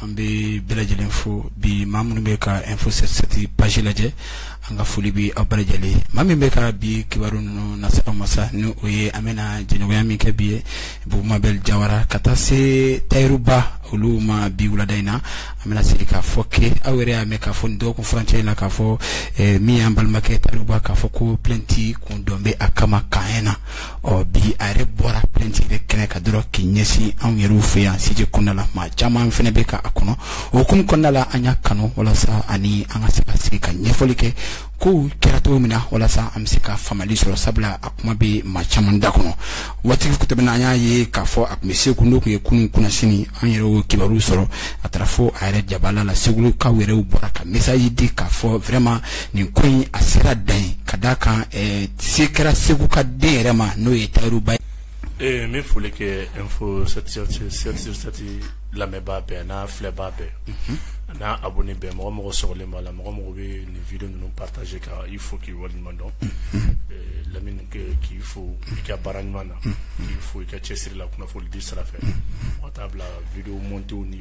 an bɛ bɛɛ lajɛlen fo bi maa minnu bɛ ka info 7 page lajɛ an ka foli bɛ aw bɛɛ lajɛlen ma min bɛ ka bi kibaru ninnu nase aw ma sa ni o ye an bɛna jɛɲɔgɔnya min kɛ bi ye bubu mabɛli jawara ka taa se tayiruba olu ma bi wulada in na an bɛna sigi k'a fɔ ke aw yɛrɛ y'a mɛn k'a fɔ nin dɔgɔkun furancɛ in na k'a fɔ eh, min y'an balimakɛ tayiruba k'a fɔ ko plainte kun don bɛ a kama camp 1 na ɔ bi a yɛrɛ bɔra plainte yɛrɛ kɛnɛ kan dɔrɔn k'i ɲɛsin anw yɛrɛw fɛ yan siège kɔnɔna la maa caman fɛnɛ bɛ ka a kɔnɔ o hukumu kɔnɔna la an y'a kanu walasa a ni an ka se ka sigi ka ɲɛfɔli kɛ kow kɛra cogo min na walasa an bɛ se ka faamali sɔrɔ sabula a kuma bɛ maa caman da kɔnɔ waati tɛmɛna an y'a ye k'a fɔ a tun bɛ segu n'o tun ye kunun kunasini an yɛrɛ y'o kibaruw sɔrɔ a taara fo a yɛrɛ jabala la segulukaw yɛrɛw bɔra ka message di k'a fɔ vraiment nin ko in a sera dan ye ka d'a kan ɛɛ se kɛra segu ka den yɛrɛ ma n'o ye tayiruba ye. ee n bɛ foli kɛ info 7 lamɛnbaa bɛɛ n'a filɛbaa bɛɛ mhm. n'a abonné bɛɛ mɔgɔ mɔgɔ sɔgɔlen b'a la mɔgɔ mɔgɔ bɛ nin video ninnu partager ka i fo k'i waleɲuman dɔn mhm. lamini k'i fo i ka baara ɲuman na mhm. k'i fo i ka cɛsiri la kunnafonidi sira fɛ ka taa bila video montew ni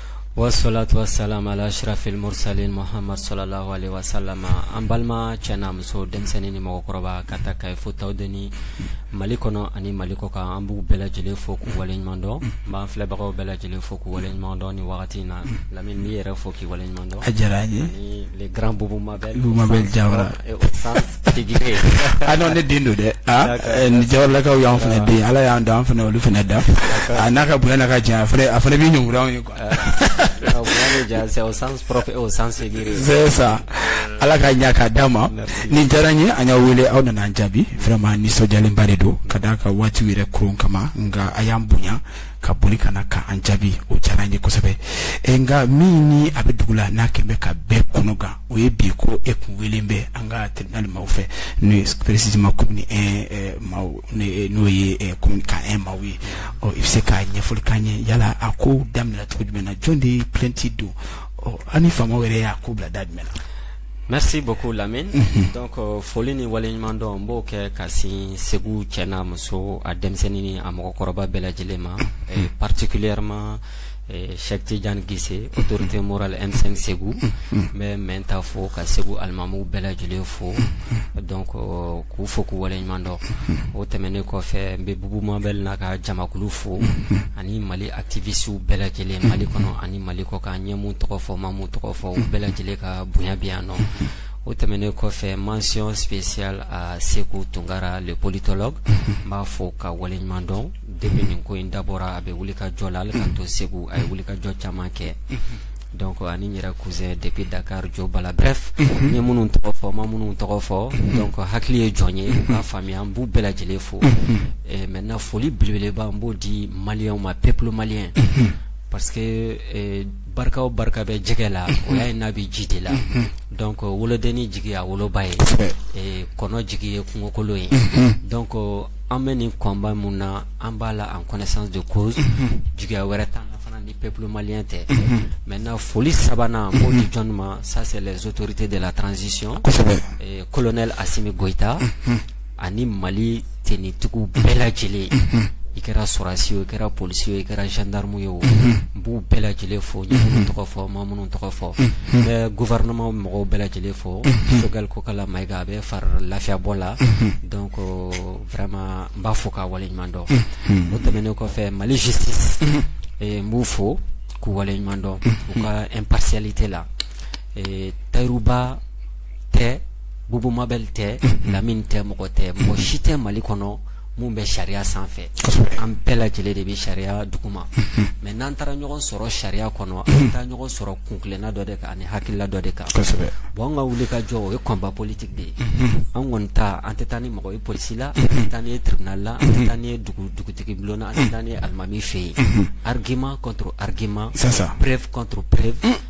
Wasalatu wasalamu ala ashrafil mursalin muhammad sallallahu alayhi wasallam an balima cɛ n'a muso denmisɛnnin ni mɔgɔkɔrɔba k'a ta kayi fo tawudeni mali kɔnɔ ani mali kɔkan an b'u bɛɛ lajɛlen fo k'u waleɲumandɔn n b'an filɛbagaw bɛɛ lajɛlen fo k'u waleɲumandɔn ni wagati in na lamini yɛrɛ fo k'i waleɲumandɔn a diyara n ye ni le grand bubu mabɛli ah non ne den don dɛ ni jawaralakaw y'an fana den ala y'an da an fana olu fana da a n'a ka bonya n'a ka jan a fana bɛ ɲɔn ye c'est ça ala ka ɲa k'a d'a ma nin diyara n ye an y'aw wele aw nana an jaabi vraiment nisɔndiyalenba de don ka d'a kan waati yɛrɛ kɔrɔn kama nka a y'an bonya ka boli ka na ka an jaabi o diyara n ye kosɛbɛ e nka min ni a bɛ dugu la n'a kɛlen bɛ ka bɛɛ kɔnɔ gan o ye bi ko e kun welen bɛ an ka tribunal maaw fɛ n'o ye précisément commune 1 maaw n'o ye commune camp 1 maaw ye ɔ i bɛ se ka ɲɛfɔli k'an ye yala a ko daminɛna cogo jumɛn na jɔn de ye plainte don ɔ ani faamaw yɛrɛ y'a ko bila da jumɛn na. Merci beaucoup Lamine. Mhm. Donc euh, foli ni waleɲuman dɔn n b'o kɛ ka sin Segu cɛ n'a muso a denmisɛnnin ni a mɔgɔkɔrɔba bɛɛ lajɛlen ma mhm. particulièrement Cheikh Tidiane Guissé mhm. autorité morale M5 Segu n bɛ mɛn ta fo ka Segu alimamuw bɛɛ lajɛlen fo donc euh, k'u fo k'u waleɲuman dɔn o tɛmɛnen kɔfɛ n bɛ Bubu Mabel n'a ka jamakulu fo ani Mali activistes bɛɛ lajɛlen Mali kɔnɔ ani Mali kɔkan n ye min tɔgɔ fɔ n ma min tɔgɔ fɔ u bɛɛ lajɛlen ka bonya bɛ yan nɔ o tɛmɛnen kɔfɛ mention spéciale à Seku Tunkara le politologue n b'a fo k'a waleɲuman dɔn depuis nin ko in dabɔra a bɛ wuli ka jɔ la hali k'an to Segu a ye wuli ka jɔ caman kɛ donc ani n yɛrɛ cousin depuis Dakar Jo Bala bref n ye minnu tɔgɔ fɔ n ma minnu tɔgɔ fɔ donc hakili ye jɔn ye k'a faamuya an b'u bɛɛ lajɛlen fo maintenant foli belebeleba n b'o di Maliens ma peuple malien parce que ee barika o barika bɛ jɛgɛ la unhun o y'a ye n'a bɛ ji de la unhun donc wolodenni jigi y'a woloba ye kosɛbɛ ee kɔnɔ jigi ye kungokolo ye unhun donc an bɛ nin combat min na an b'a la en connaissance de cause unhun jigiya wɛrɛ t'an na fana ni peuple malien tɛ unhun maintenant foli sabanan n b'o di jɔni ma ça c'est les autorités de la transition kosɛbɛ ee colonel Assimi Goita unhun ani Mali tenue tigiw bɛɛ lajɛlen i kɛra sɔrɔdasi ye o i kɛra polisi ye o i kɛra gendarme ye o n b'u bɛɛ lajɛlen fo n ye min tɔgɔ fɔ n ma minnu tɔgɔ fɔ gouvernement mɔgɔw bɛɛ lajɛlen fo Choguel Kokalla Maïga bɛ fari lafiyabɔ la donc vraiment n b'a fo k'a waleɲuman dɔn o tɛmɛnen kɔfɛ Mali justice n b'u fo k'u waleɲuman dɔn u ka impartialité la Tahirou Bah tɛ Bubu Mabel tɛ Lamine tɛ mɔgɔ tɛ mɔgɔ si tɛ Mali kɔnɔ min bɛ sariya sanfɛ an bɛɛ lajɛlen de bɛ sariya duguma mais n'an taara ɲɔgɔn sɔrɔ sariya kɔnɔ an taa ɲɔgɔn sɔrɔ kunna dɔ de kan ani hakilila dɔ de kan bon an ka wuli ka jɔ o ye combat politique de ye an kɔni ta an tɛ taa ni mɔgɔ ye polisi la an tɛ taa n'i ye tribunal la an tɛ taa n'i ye dugutigi bulon na an tɛ taa n'i ye alimami fɛ yen argument contre argument preuve contre preuve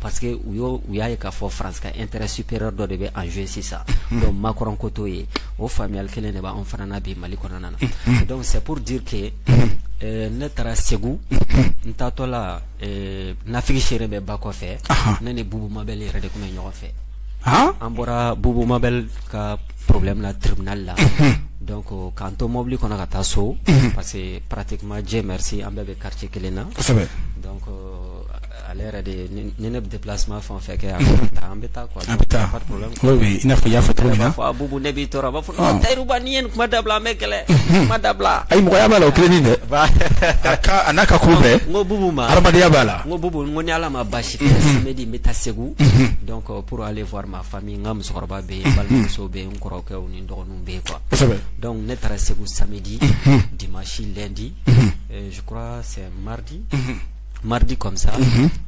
parce que u y'o u y'a ye k'a fɔ France ka intérêt supérieur dɔ de bɛ en jeu sisan donc Macron ko t'o ye o faamuyali kelen de b'anw fana na bi Mali kɔnɔna na donc c'est pour dire que euh, ne taara Segu n taatɔ la euh, nafigi seere bɛ ba kɔfɛ ne ni Bubu Mabel yɛrɛ de tun bɛ ɲɔgɔn fɛ ah? an bɔra Bubu Mabel ka problème la tribunal la donc euh, k'an to mobili kɔnɔ ka taa so parce que pratiquement Dieu merci an bɛɛ bɛ quartier kelen na donc euh, Ale yɛrɛ de ye ni ne bɛ déplacement fɛn o fɛn kɛ yan an bɛ taa an bɛ taa n'a fɔ y'a fɔ bubu ne b'i tɔɔrɔ a b'a fɔ tayiruba ni ye nin kuma dabila an bɛ kɛlɛ kuma dabila a mɔgɔya b'a la o kelen dɛ a n'a ka ko bɛɛ n ko bubu ma hadamadenya b'a la ko bubu ko ni ala ma baasi kɛ samedi n bɛ taa segu donc pour aller voir ma famille n ka musokɔrɔba bɛ yen balimamuso bɛ yen kɔrɔkɛ ni dɔgɔninw bɛ yen quoi donc ne taara segu samedi dimanche lundi je crois c'est mardi mardi comme ça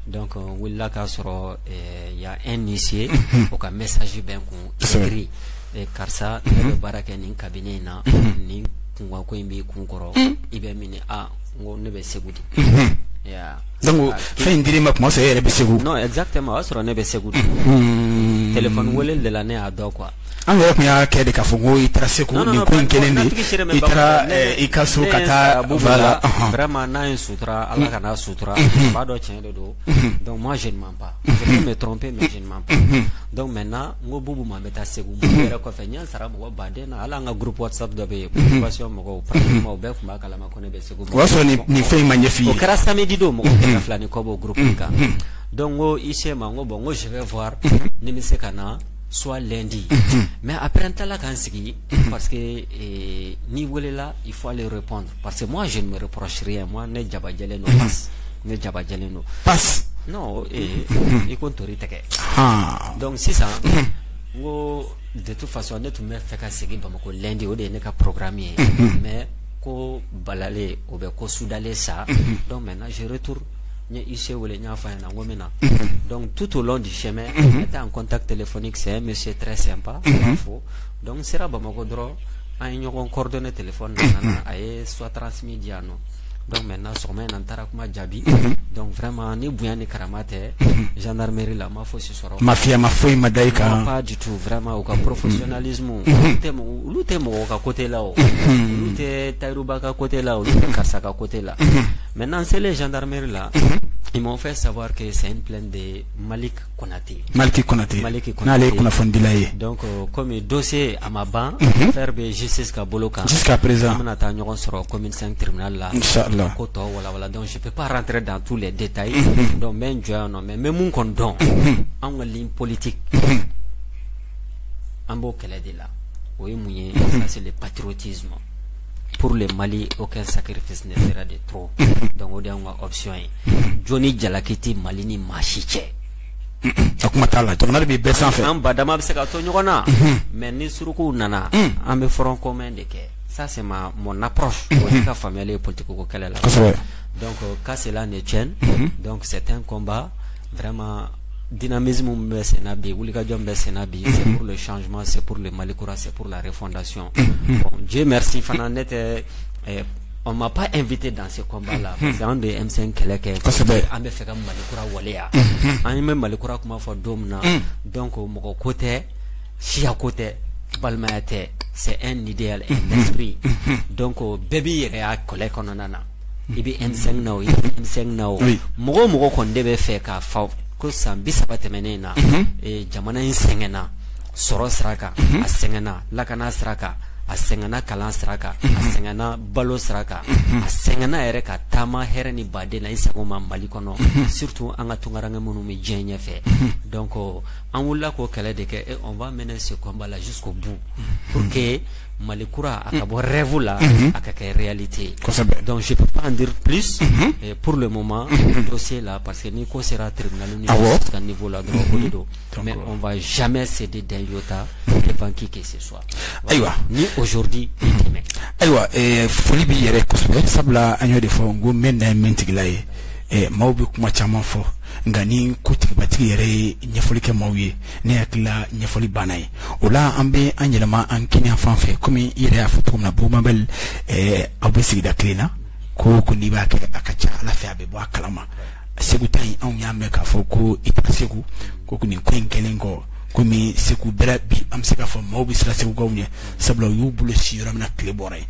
donc n wulila k'a sɔrɔ y a un huissier o ka message bɛ n kun écrit karisa ne bɛ baara kɛ nin cabinet in na nin kunkanko in b'i kun kɔrɔ i bɛ min aa n ko ne bɛ segu de donc fɛn in dir'i ma kuma fɛ e yɛrɛ bɛ segu exactement o y'a sɔrɔ ne bɛ segu de téléphone wele de la ne y'a dɔn quoi An yɛrɛ tun y'a kɛ de k'a fɔ ko i taara segu ni ko in kelen de i taara i ka so ka taa la n'a ye su ala ka su ba dɔ cɛn de don dɔnku ma z pa bɛ tɔn pe mɛ z pa dɔnku mɛ na n ko bubu ma bɛ taa segu yɛrɛ kɔfɛ n sara mɔgɔ baden na ala an ka gurp sa dɔ bɛ yen mɔgɔw o bɛɛ tun b'a kala ma ko ne bɛ segu o y'a sɔrɔ nin fɛn in ma ɲɛfin o kɛra sadi don mɔgɔ fila ni kɔ bɔ gp kan dɔnku ko i se ma ko bɔn n ko sɛbɛn fɔ ne bɛ se ka na soit lundi unhun mais après n tilala ka n sigi unhun parce que ee n'i welela il faut aller répondre parce que moi je ne me reproche rien moi ne jabajɛlen don pas ne jabajɛlen don pas non ee i ko ntori tɛgɛ haa donc sisan n ko de toute façon ne tun bɛ fɛ ka segin Bamako lundi o de ye ne ka programme ye mais ko balalen o bɛ ko sudalen sa donc maintenant je retourne n ye huissier wele n y'a fɔ a ɲɛna n ko n bɛ na donc tout au long du chemin on était en contact téléphonique c'est un monsieur très sympa n b'a fo donc n sera Bamakɔ dɔrɔn an ye ɲɔgɔn coordonner téléphone na a nana a ye soit transmis di yan nɔ donc maintenant sɔgɔma in na n taara kuma jaabi donc vraiment ni bonya ni karama tɛ gendarmerie la n ma fosi sɔrɔ mafiya ma foyi ma da i kan non pas du tout vraiment u ka professionnalisme olu tɛ mɔgɔ olu tɛ mɔgɔ ka côté la o olu tɛ Tayiruba ka côté la olu tɛ karisa ka côté la Mɛ n'an selen jankameeri la i ma fɛ sabawa kɛ sa in filɛ de mali kɔnɔnatɛ maliki kɔnɔtɛ mali n'ale ye kunnafonidila ye kɔmi do se a ma ban fɛrɛɛrɛ bɛ zsi ka bolo kan sisan ka perez an bɛna taa ɲɔgɔn sɔrɔ kɔmi tiribiina la la ko tɔ wawa dɔn si tɛ dan tu la de ta ye dɔn bɛ jɔ yan nɔ mɛ mɛ min kɔn dɔn an ka polite an b'o kɛlɛ de la o ye mun ye seli patouruti ma pour le Mali aucun sacrifice ne sera de trop donc o de y'anw ka option ye jo ni jalaki tɛ Mali ni maa si cɛ. a kuma t'a la jamana de bɛ bɛɛ sanfɛ. an badenma bɛ se ka to ɲɔgɔn na. mais ni surukuw nana. an bɛ front commun de kɛ ça c'est ma mon approche. o ye n ka faamuyali ye politique ko kɛlɛ la. kosɛbɛ donc qu'à cela ne tienne. donc c'est un combat. vraiment dynamisme min bɛ sen na bi wulikajɔ min bɛ sen na bi c'est pour le changement c'est pour le Mali kura c'est pour la refondation bon Dieu merci fana ne tɛ eh, on m'a pas invité dans ce combat là parce que anw de ye M5 kɛlɛ kɛ kosɛbɛ an b'a fɛ ka Mali kura waleya an bɛ Mali kura kuma fɔ don min na donc mɔgɔ ko tɛ siya ko tɛ balimaya tɛ c'est un idéal un esprit donc bɛɛ b'i yɛrɛ y'a kɛlɛ kɔnɔna na i bɛ M5 na o i tɛ M5 na o mɔgɔ o mɔgɔ kɔni de b'a fɛ k'a fɔ ko san bi saba tɛmɛnen na jamana in sɛgɛnna sɔrɔ sira kan a sɛgɛnna lakana sira kan a sɛgɛnna kalan sira kan a sɛgɛnna balo sira kan a sɛgɛnna yɛrɛ ka taama hɛrɛ ni baden na i sago ma Mali kɔnɔ surtout an ka tungaranke minnu bɛ diɲɛ ɲɛfɛ donc an wulila k'o kɛlɛ de kɛ on va mener ce combat là jusqu'au bout Mali kura a ka bɔ rêve la a ka kɛ réalité ye kosɛbɛ donc je peux pas en dire plus pour le moment dossier là parce que ni ko sera tribunal ni justice ka niveau la dɔrɔn o de don mais on va jamais céder d'un iota devant qui que ce soit ayiwa ni aujourd'hui ni demain ayiwa foli b'i yɛrɛ kosɛbɛ sabula an y'o de fɔ n ko mɛ na ye min tigila ye maaw bɛ kuma caman fɔ nka ni ko tigibatigi yɛrɛ ye ɲɛfɔli kɛ maaw ye ne hakilila ɲɛfɔli banna ye o la an bɛ an yɛlɛma an kinin yanfan fɛ komi i yɛrɛ y'a fɔ cogo min na Boubou Mabel ɛɛ aw bɛ sigida kelen na ko o ko n'i b'a kɛ a ka ca Ala fɛ a bɛ bɔ a kalama segu ta in anw y'a mɛn k'a fɔ ko i tɛ segu ko nin ko in kɛlen kɔ komi segu bɛrɛ bi an bɛ se k'a fɔ maaw bɛ siran segukaw ɲɛ sabula u y'u bolo sin yɔrɔ min na tile bɔra yen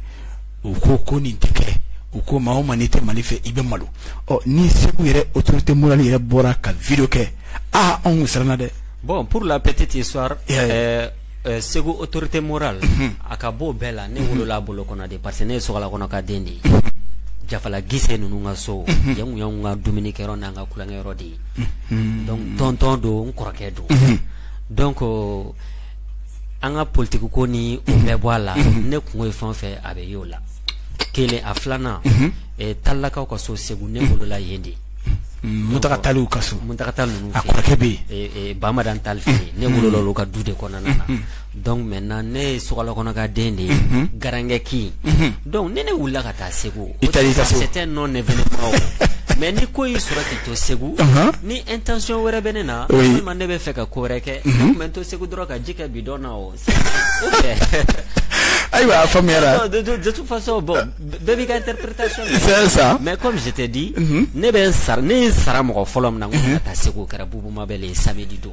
u ko ko nin tɛ kɛ u ko maa o maa n'i tɛ Mali fɛ i bɛ malo ɔ ni segu yɛrɛ autorité morale yɛrɛ bɔra ka vidéo kɛ aa anw siranna dɛ bon pour la petite histoire segu autorité morale a ka bon bɛɛ la ne wolola a bolo kɔnɔ de parce que ne ye sokala kɔnɔ ka den de ye Jafala Gise ninnu ka so yan o y'anw ka dumunikɛyɔrɔ n'an ka tulonkɛyɔrɔ de ye donc tonton don n kɔrɔkɛ don donc an ka politiki ko ni o bɛɛ bɔ a la ne kunko ye fɛn o fɛn a bɛ y' o la kelen a filanan Talilakaw ka so segu ne wolola yen de Muntaka Taliw ka so Muntaka Tali ninnu a kɔrɔkɛ bɛ yen Bamadani Tali fɛ ne wolola olu ka du de kɔnɔna na donc maintenant ne ye sokala kɔnɔ ka den de ye garankɛ kin Dɔnku ni ne wulila ka taa segu i tɛ nɔ ne mɛ ni ko y'i sɔrɔ k'i to segu ni e tɛc wɛrɛ bɛ ne na ma ne bɛ fɛ ka ko wɛrɛ kɛ bɛ to segu dɔrɔn ka ji kɛ bi dɔn ayiwa a faamuya dusutufaso bɔ bɛɛ b'i ka sa mɛ ko misi tɛ di ne bɛ ne ye sara mɔgɔ fɔlɔ min na ka taa segu kɛra buba bɛ sa di don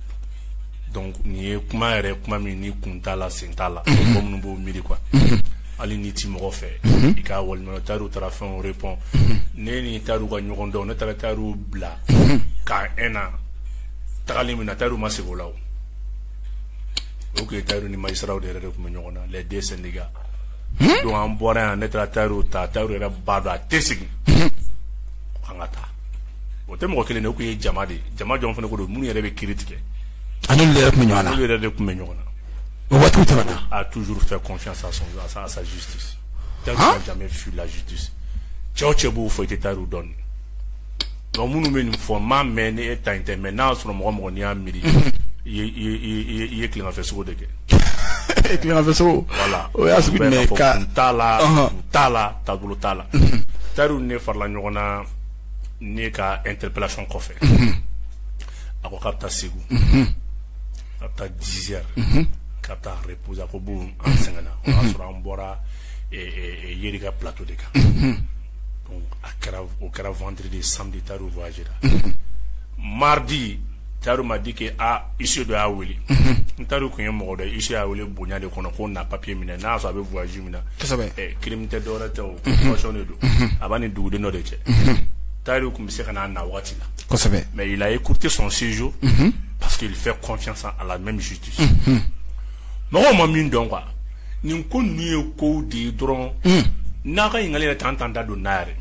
donc nin ye kuma yɛrɛ kuma min ni kun t'a la sen t'a la mɔgɔ minnu b'o miiri quoi hali n'i ti mɔgɔ fɛ i ka walima Tahirou taara fɛn o répond ne ni Tahirou ka ɲɔgɔn dɔn ne taara Tahirou bila ka n na tagali min na Tahirou ma segin o la o o tun ye Tahirou ni magistrats de yɛrɛ de tun bɛ ɲɔgɔn na les deux syndicats donc an bɔra yan ne taara Tahirou ta Tahirou yɛrɛ b'a dɔn a tɛ segin an ka taa o tɛ mɔgɔ kelen de tun ye jama de jama jɔn fana ko don minnu yɛrɛ bɛ kiri tigɛ ani olu yɛrɛ tun bɛ ɲɔgɔn na olu yɛrɛ de tun bɛ ɲɔgɔn na waati a toujours fait confiance à sa justice Tahirou n'a jamais fui la justice cɛ o cɛ b'o fɔ i tɛ Tahirou dɔn donc minnu bɛ nin fɔ n m'a mɛn ni e ta in tɛ mais n'a sɔrɔ mɔgɔ mɔgɔ n'i y'a miiri i ye tilegan fɛ sugo de kɛ e tilegan fɛ sugo voilà o y'a sigi t'a la t'a la taabolo t'a la Tahirou ne farala ɲɔgɔn na ne ka interpellation kɔfɛ a ko k'a bɛ taa segu ka taa dix heures ka taa reposer a ko bon an sɛgɛnna o y'a sɔrɔ an bɔra Yeri ka plateau de kan a kɛra o kɛra vendredi samedi Tahirou voyagera mardi Tahirou m'a dit que aaa huissier dɔ y'a weele ni Tahirou tun ye mɔgɔ dɔ huissier y'a weele bonya de kɔnɔ ko na papiye minɛ n'a sɔrɔ a bɛ voyage kelen tɛ dɔw tɛsɔn de don a b'a ni dugu dɔ de cɛ tari tun bɛ se ka n'a na waati lasɛbɛ mɛ ye kurute sɔn sinjo pa que fɛn kɔnfi san a la mɛ misi ci mɔgɔ ma min dɔn qu nin ko n' ye ko de ye dɔrɔn n'a ka ɲininkaka yɛrɛ tan tan da don n'a yɛrɛ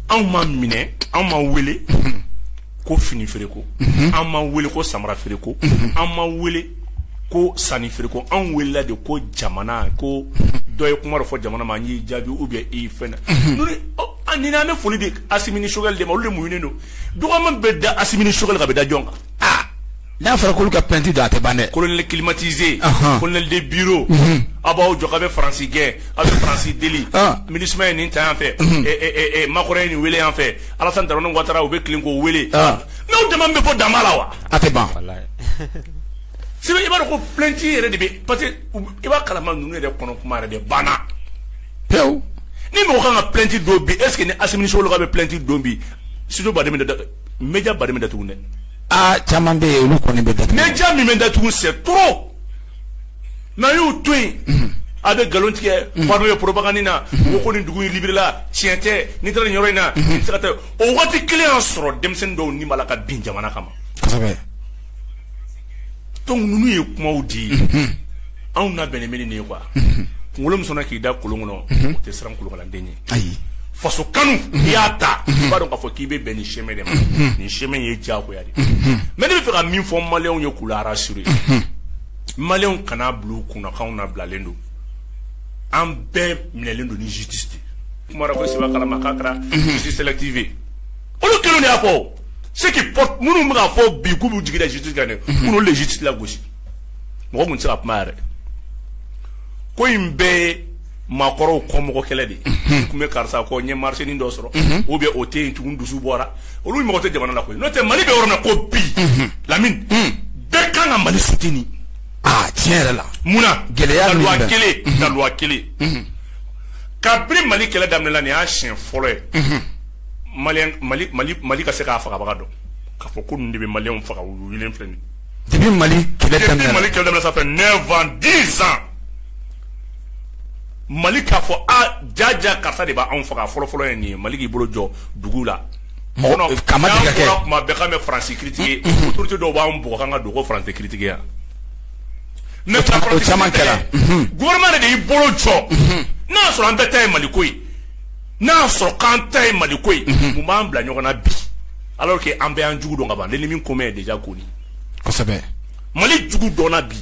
anw ma minɛ anw ma wele ko fini feere ko an ma wele ko samara feere ko an ma wele ko sanu feere ko an welela de ko jamana ko dɔ ye kuma dɔ fɔ jamana ma an y'i jaabi ou bien i fɛn na ni an bɛ foli de Assimi ni Choguel de ma olu de muɲunen don dɔgɔya min bɛ da Assimi ni Choguel kan a bɛ da jɔn kan n'a fɔra k'olu ka plainte don a tɛ ban dɛ colonel climatisé colonel de bureau a b'aw jɔ k'a bɛ faransi gɛn a bɛ faransi deli MINUSMA ye nin ta yan fɛ Macron ye nin weele yan fɛ Alassane Dramane Ouattara u bɛ tilen k'o weele n'aw dama bɛ fɔ dama la wa a tɛ ban sebe i b'a dɔn ko plainte yɛrɛ de bɛ parce que i b'a kalama ninnu yɛrɛ kɔnɔ kuma yɛrɛ de banna pewu ni mɔgɔ kan ka plainte don bi est ce que ni Assimi ni Choguel ka bɛ plainte don bi studio baden bɛ datugu média baden bɛ datugu dɛ aa caman bɛ yen olu kɔni bɛ datugu média min bɛ datugu c'est trop N'a y'u to yen a bɛ nkalon tigɛ ye propagande na o ko nin dugu in libérela tiɲɛ tɛ n'i taara nin yɔrɔ in na tɛ o waati kelen y'a sɔrɔ denmisɛnnin dɔw ni b'a la ka bin jamana kama donc ninnu ye kumaw di anw labɛnnen bɛ nin ye quoi kunkolo min sɔnna k'i da kolon kɔnɔ o tɛ siran kolonkalanden ɲɛ ayi faso kanu i y'a ta i b'a dɔn k'a fɔ k'i bɛ bɛn nin chemin de ma nin chemin ye diyagoya ye mɛ ne bɛ fɛ ka min fɔ maw ye k'ra sur ye maw kana bulon kunkan na bilalen don an bɛɛ minɛlen don ni jitete kuma ko saba kalamakanratifin olu kelen y'a fɔ se minnu bɛ'a fɔ bi k'u jiginda jiti dɛ olu de jiti gosi mɔgɔ tun sera a kuma yɛrɛ ko in bɛɛ maakɔrɔw kɔ mɔgɔ kɛlɛ de tun bɛ karisa kɔ n ye marchénin dɔ sɔrɔ ou bien o tɛ yen tugun dusu bɔra olu mɔgɔ tɛ jamana la koyi n'o tɛ mali bɛ yɔrɔ min na ko bi Lamine bɛɛ kan ka mali soutenir tiɲɛ yɛrɛ la munna gɛlɛya kelen kelen kabini mali kɛlɛ daminɛna nin y'a siɲɛ fɔlɔ ye mali ka se k'a fagabaga dɔn k'a fɔ ko ninnu de bɛ maliyɛnw faga u filɛ nin depuis mali kɛlɛ daminɛ 9 ans 10 ans Mali k'a fɔ jaja karisa de b'anw faga fɔlɔfɔlɔ ye nin ye mali k'i bolo jɔ dugu la bɛ Faransi critiquer autorité dɔw b'an bugɔ ka dogo Faransi tɛ critiquer yan o caman kɛra gouvernement de y'i bolo jɔ n'a y'a sɔrɔ an bɛɛ ta ye mali ko ye n'a y'a sɔrɔ k'an ta ye mali ko ye mun b'an bila ɲɔgɔn na bi alors que an bɛɛ y'an jugu dɔn ka ban l'ennemi commun est déjà connu mali jugu dɔnna bi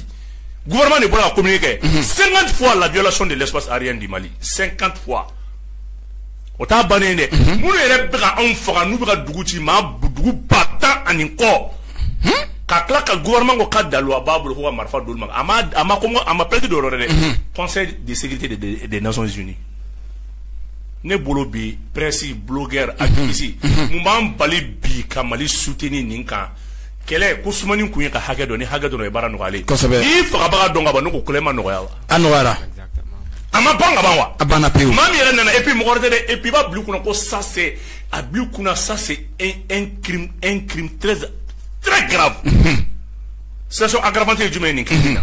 gouvernement de bɔra ka communiqué kɛ 50 fois la violation de l'espace aérien du mali 50 fois o t'a bannen dɛ minnu yɛrɛ bɛ ka anw faga n'u bɛ ka dugu ci maa dugu ba tan ani kɔ ka tila ka gouvernement ko ka daluwa b'a bolo k'o ka marifa d'olu ma a ma a ma ko a ma plainte dɔ wɛrɛ dɛ conseil de sécurité des des- des nations unies ne bolo bi presse blogueur activiste mun b'an bali bi ka mali soutenir nin kan kɛlɛ ko sumani kun ye k'a hakɛ dɔn ni hakɛ dɔn ye baara nɔgɔyalen kosɛbɛ i fagabaga dɔn ka ban ne ko kɛlɛ ma nɔgɔya wa a nɔgɔyara a ma ban ka ban wa a banna pewu maa min yɛrɛ nana et puis mɔgɔ wɛrɛ tɛ dɛ et puis i b'a bila i kunna ko ça c'est a bila i kunna ça c'est un un crime un crime très très grave situation aggravante ye jumɛn ye nin kiri in na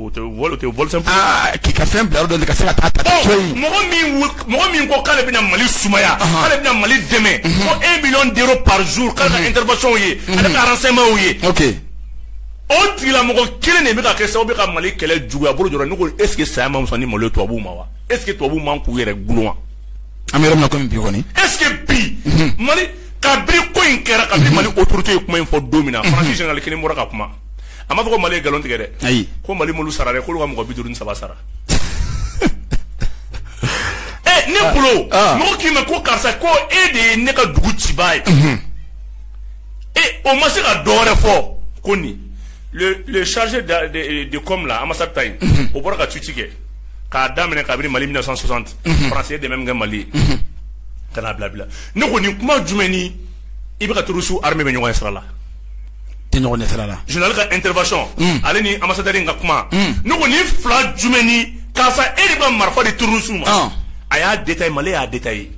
O tɛ vol tɛ vol simple ye, aa k'i ka fɛn bila yɔrɔ dɔ la i ka se ka taa a ta cogo di, ɔ mɔgɔ min mɔgɔ min ko k'ale bɛna Mali sumaya, ɔnhɔn, k'ale bɛna Mali dɛmɛ, unhun, ko 1 million d'euros par jour k'ale ka intervention y'o ye, unhun, ale ka renseignements y'o ye, ok, o tigilamɔgɔ kelen de bɛ ka kɛ sababu ye ka Mali kɛlɛ juguya bolo jɔra, ne ko est ce que saya man fisa ni malo ye tubabuw ma wa? Est ce que tubabuw man k'u yɛrɛ gulon wa? An bɛ yɔrɔ min na komi bi kɔni, est ce que bi, unhun, Mali kabini ko in kɛra, kabini Mali autorités ye kuma in fɔ don min na, France général kelen bɔra ka kuma a ma fɔ ko mali ye nkalon tigɛ dɛ ayi ko mali m'olu sara dɛ k'olu ka mɔgɔ bi duuru ni saba sara ɛ ne ah. bolo ah. mɔgɔ k'i ma ko karisa ko e de ye ne ka dugu cibaa ye mhm. e o ma se ka dɔ wɛrɛ fɔ ko nin le le chargé de de de com là ambassade ta in mhm. o bɔra ka tweet kɛ k'a daminɛ kabini mali 1960 mhm. faransi ye dɛmɛ min kɛ mali ye ka n'a bila bila ne ko nin kuma jumɛn ni i bɛ ka terroristew armer bɛ ɲɔgɔn ɲɛ sira la tɛ ɲɔgɔn ɲɛ sira la général ka intervention mm. ale ni ambassadeur in ka kuma mm. ne ko nin fila jumɛn ni karisa e de bɛ ka marifa di terroriste ma ah. a y'a détaillé mali y'a détaillé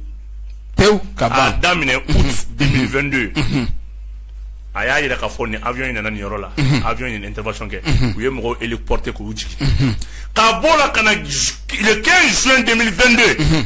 pewu ka ban a daminɛ août 2022 mm-hmm. mm-hmm. a y'a yira k'a fɔ nin avion in nana nin yɔrɔ la mm-hmm. avion in ye intervention kɛ u ye mɔgɔw héliporté k'u jigin ka b'o la ka na le 15 juin 2022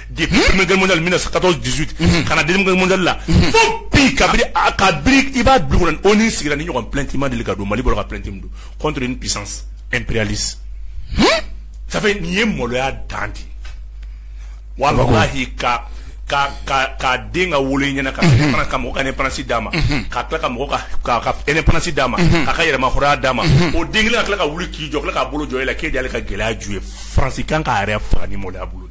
De 1914-18 ka na deuxième guerre mondiale la fo bi kabini i b'a dɔn ONU sigira nin ɲɔgɔn plainte ma deli ka don mali bɔra ka plainte min don contre une puissance impérialiste ça fait nin ye maloya dan di walahi ka ka ka ka den ka wolo i ɲɛna ka ban ka mɔgɔ ka indépendance d'a ma ka tila ka mɔgɔ ka indépendance d'a ma ka ka yɛrɛmahɔrɔnya d'a ma o den kelen ka tila ka wuli k'i jɔ k'a bolo jɔ i la k'e de y'ale ka gɛlɛya ju ye faransi kan k'a yɛrɛ faga nin maloya bolo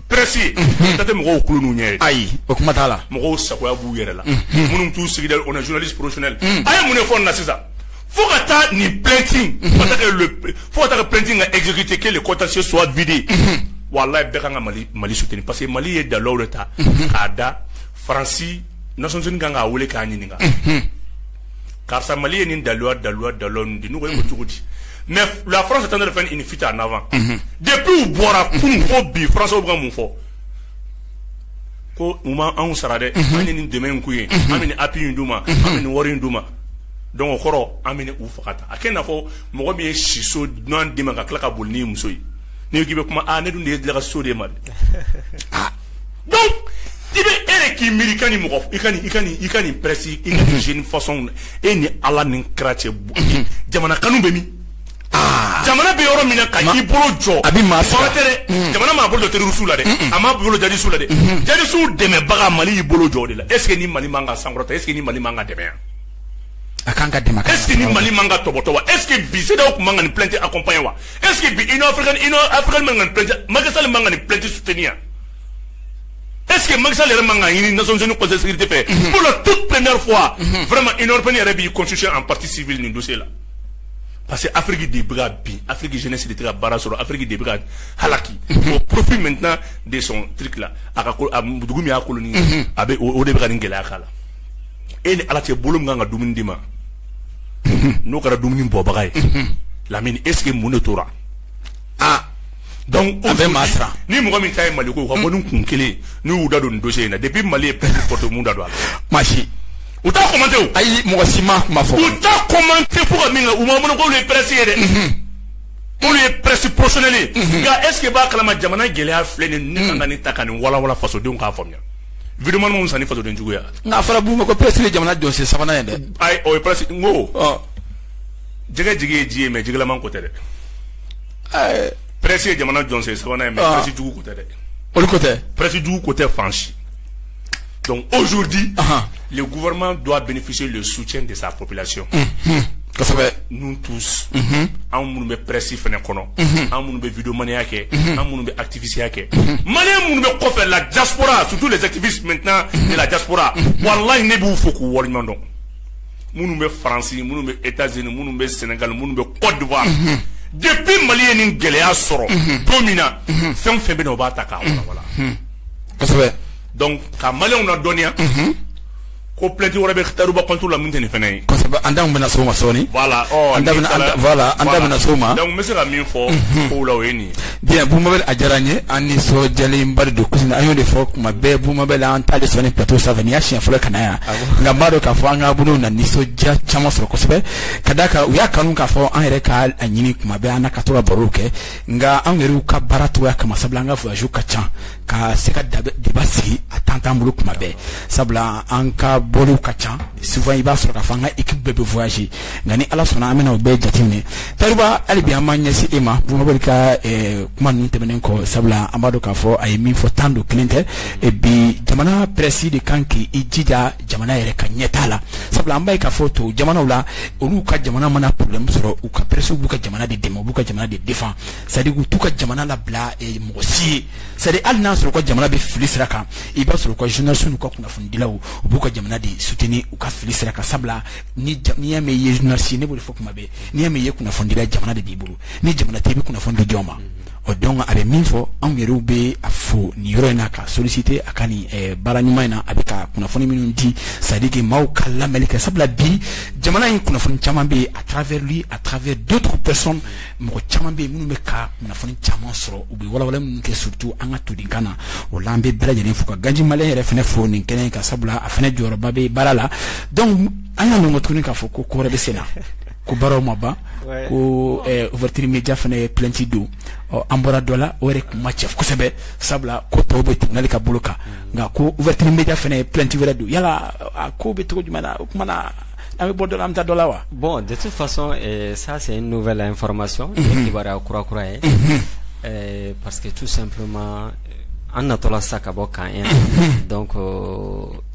presse ta tɛ mɔgɔw kulu ninnu ɲɛ ayi o kuma t'a la mɔgɔw sagoya b'u yɛrɛ la minnu t'u sigida on est journaliste professionnel a ye mun de fɔ nin na sisan fo ka taa nin plainte in fo ka taa ka plainte in ka exécuter que le contentieux soit vidé walayi bɛɛ kan ka mali mali soutenir parce que mali ye daluw de ta k'a da faransi nations unies kan k'a wele k'a ɲininka karisa mali ye nin daluya daluya dalu di n ye cogo di mais la france est en train de faire une fuite en avant depuis u bɔra kunun fo bi faransi bɛ ka mun fɔ ko u ma anw sara dɛ an ye nin dɛmɛ in k'u ye an bɛ nin appui in d'u ma an bɛ nin wari in d'u ma donc o kɔrɔ an bɛ u faga ta a kɛ n'a fɔ mɔgɔ min ye siso duman d'i ma ka tila ka boli n'i muso ye n'i k'i bɛ kuma ne dun de ye dala so d'e ma i bɛ e de k'i miiri ka ni mɔgɔ i ka i ka i ka nin presse i ka z façon e ni ala n'i kɛra cɛ jamana kanu bɛ min ah. jamana bɛ yɔrɔ min na k'a y'i bolo jɔ a bɛ maa sɔrɔ tɛ dɛ mm. jamana m'a bolo terroristes la dɛ a m'a bolo jihadistes la dɛ mm-hmm. jihadistes dɛmɛbaga mali y'i bolo jɔ o de la est ce que nin mali man ka sankɔrɔta est ce que nin mali man ka dɛmɛ a kan ka dɛmɛ est ce que nin mali man ka tɔbɔtɔ wa est ce que bi CEDEAO tun man ka nin plainte accompagner wa est ce que bi union africaine union africaine man ka nin plainte Macky Sall man ka nin plainte soutenir est ce que Macky Sall yɛrɛ man ka ɲini Nations Unies Conseil de sécurité fɛ mhm. pour la toute première fois mhm. vraiment union européenne yɛrɛ b'i constituer en partie civile nin dossier la parce que Afrique de bɛ ka bin Afrique jeunesse de tɛ ka baara sɔrɔ Afrique de bɛ ka halaki mhm. au profit maintenant de son truc là a ka ko a dugu min y'a colonie a bɛ o de bɛ ka nin gɛlɛya k'a la. e ni ala cɛ bolo min ka kan ka dumuni di ma n'o kɛra dumuni bɔbaga ye lamini est-ce que mun de tora aa donc o bɛ maa sara ni mɔgɔ min ta ye mali ko ka bɔ ni kun kelen n'u y'u da don nin dossier in na depuis mali ye plainte porter u m'u da don a la maa si u t'a commenter o ayi mɔgɔ si ma kuma fɔ u t'a commenter fo ka min kɛ u ma mɔnɔ k'olu ye presse ye dɛ olu ye presse professionnelle nka est-ce que u b'a kalama jamana gɛlɛya filɛ nin ye k'an ka nin ta ka nin walawala fasodenw k'a faamuya vmani san faden juguyaya n'a fɔra b' ma ko psi ye jamana don sen sabanan ye dɛ ayi o ye pa n ko jɛgɛ jigi ye ji ye mɛ jilaman ko tɛ dɛ pɛresi ye jamana jɔn sen sabanan ye mɛsi jugu ko tɛ dɛ o ko tɛ pɛsi jugu ko tɛ fansi dɔnku ozodi gma don a bɛfisi de suc de sa plasi kosɛbɛ n tu anw minnu bɛ pɛresi fana kɔnɔ anw minnu bɛ vmaniya kɛ anw minnu bɛ tɛbiya kɛ mali minnu bɛ kɔfɛ la jara sutu de tɛbi jara wala ne b'u fɔ k'u wari ɲɔgɔndɔn minnu bɛ faransi minnu bɛ e taz minnu bɛ sɛnɛga minnu bɛ kɔdiwa de bɛ mali ye ni gɛlɛyaya sɔrɔ don min na fɛn fɛn bɛ o b'a ta k'a ka maliw na dɔnniya ko plainte wɛrɛ bɛ tahirou bah contre la min tɛ nin fana ye an da bɛna s'o ma sɔɔni an da bɛna s'o ma n bɛ se ka min fɔ ko la o ye nin ye boubou mabel a diyara an ye an nisɔndiyalenba don an y'o de fɔ kuma bɛɛ boubou mabel an ta de sɔn nin plateau sanfɛ nin y'a siɲɛ fɔlɔ ka na yan nka an b'a dɔn k'a fɔ an ka bolo na nisɔndiya caman sɔrɔ kosɛbɛ ka d'a kan u y'a kanu k'a fɔ an yɛrɛ ka a ɲini kuma bɛɛ an ka to ka baro kɛ nka anw yɛrɛw ka baara cogoya kama sabula an ka voyage ka ca ka se ka débat sigi a temps t'an bolo kuma bɛɛ sabula an ka bɔliw ka ca souvent i b'a sɔrɔ k'a fɔ an ka équipe bɛɛ bɛ voyage nka ni ala sɔnna an bɛna o bɛɛ jateminɛ tahirou bah hali bi an b'an ɲɛsin e ma boubou mabel ka eh, kuma ninnu tɛmɛnen kɔ sabula an b'a dɔn k'a fɔ a ye min fɔ tan don kelen tɛ eh, bi jamana presse de ka kan k'i jija jamana yɛrɛ ka ɲɛtaa la sabula an b'a ye k'a fɔ tɔ jamanaw la olu ka jamana mana problème sɔrɔ u ka presse b'u ka jamana de dɛmɛ u b'u ka jamana de défend c'est à dire k'u t'u ka jamana labila eh, mɔgɔ si ye c'est à dire hali n'a sɔrɔ u ka jamana bɛ fili sira kan i b'a sɔrɔ u ka journaliste n'u ka kunnafonidilaw u b'u ka jamana de soutenir u ka fili sira kan sabula ni ja- n'i y'a mɛn i ye journaliste ye ne b'o de fɔ kuma bɛɛ n'i y'a mɛn i ye kunnafonidila ye jamana de b'i bolo ni jamana tɛ i bɛ kunnafoni di jɔn ma o donc a bɛ min fɔ anw yɛrɛw bɛ a fo nin yɔrɔ in na k'a solliciter a ka nin eh, baara ɲuman in na a bɛ ka kunnafoni minnu di c'est à dire que maaw ka lamɛnli kɛ sabula bi jamana in kunnafoni caman bɛ yen à travers lui à travers d'autres personnes mɔgɔ caman bɛ yen minnu bɛ ka kunnafoni caman sɔrɔ u bɛ walawala minnu kɛ surtout an ka todinkan na o la an bɛ bɛɛ lajɛlen fo ka gandhi malien yɛrɛ fana fo nin kɛnɛ in kan sabula a fana jɔyɔrɔba bɛ baara la donc an y'a mɛn tuguni k'a fɔ ko ko wɛrɛ bɛ sen na ko baaraw ma ban ko ouverture média fana ye plainte don ɔ an bɔra dɔ la o yɛrɛ kun ma cɛ kosɛbɛ sabula ko tɔw bɛ tribunal ka bolo kan nka ko ouverture média fana ye plainte wɛrɛ don yala a ko bɛ cogo jumɛn na o tuma na an bɛ bɔ dɔ la an bɛ taa dɔ la wa bon de toute façon ça c'est une nouvelle information kibaruya kurakura ye parce que tout simplement an natɔla sa ka bɔ k'an ye donc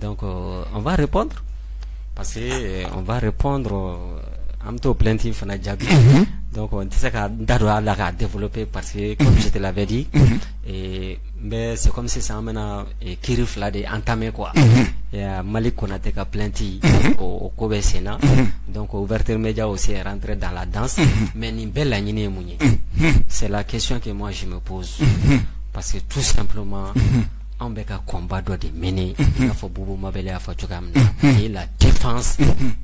donc euh, on va répondre parce que euh, on va répondre euh, an bɛ t'o plainte fana jaabi mhm. donc n tɛ se ka n da don a la k'a développer parce que comme mhm. je te l'avais dit mhm. eh, mais c'est comme sisan an bɛna eh, kiri fila de entamer quoi ya Malik Konate ka plainte o o ko bɛ sen na donc ouverture média aussi est rentré dans la danse mais nin bɛɛ laɲini ye mun ye c'est la question que moi je me pose parce que tout simplement anw bɛ ka combat dɔ de mener i n'a fɔ Boubou Mabel y'a fɔ cogoya min na la défense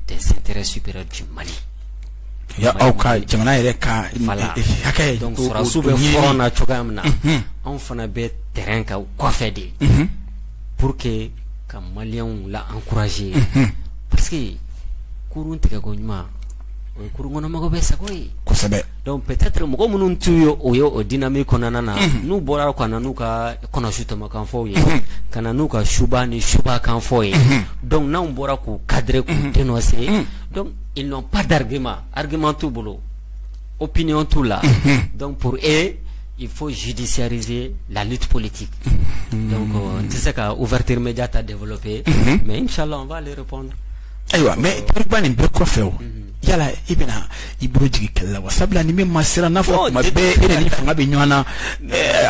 des intérêts supérieurs du Mali aw ka jamana yɛrɛ ka hakɛ donc sɔrɔdasiw bɛ front na cogoya min na anw fana bɛ terrain kan kɔfɛ de pour que ka maliyɛnw la encourager parce que kurun tigɛko ɲuman o ye kurun kɔnɔmɔgɔw bɛɛ sago ye, kosɛbɛ, donc peut-être mɔgɔ minnu t'u yɛrɛ ye o dynamique kɔnɔna na, unhun, n'u bɔra ka na n'u ka kɔnɔsutɔmɔkanfɔw ye, unhun, ka na n'u ka suba ni subakanfɔ ye, unhun, donc n'anw bɔra k'u cadrer k'u denoncer, unhun, donc ils n'ont pas d'argument, argument t'u bolo, opinion t'u la, unhun, donc pour eux il faut judiciariser la lutte politique, unhun, donc n tɛ se ka ouverture média ta développer, unhun, mais inchallah on va leur répondre Ayiwa mais Tahirou Bah nin bɛɛ kɔfɛ o yala i bɛna i bolo jigin kɛlɛ la wa sabula ni min ma siran n'a fɔ tuma bɛɛ e ni fanga bɛ ɲɔgɔn na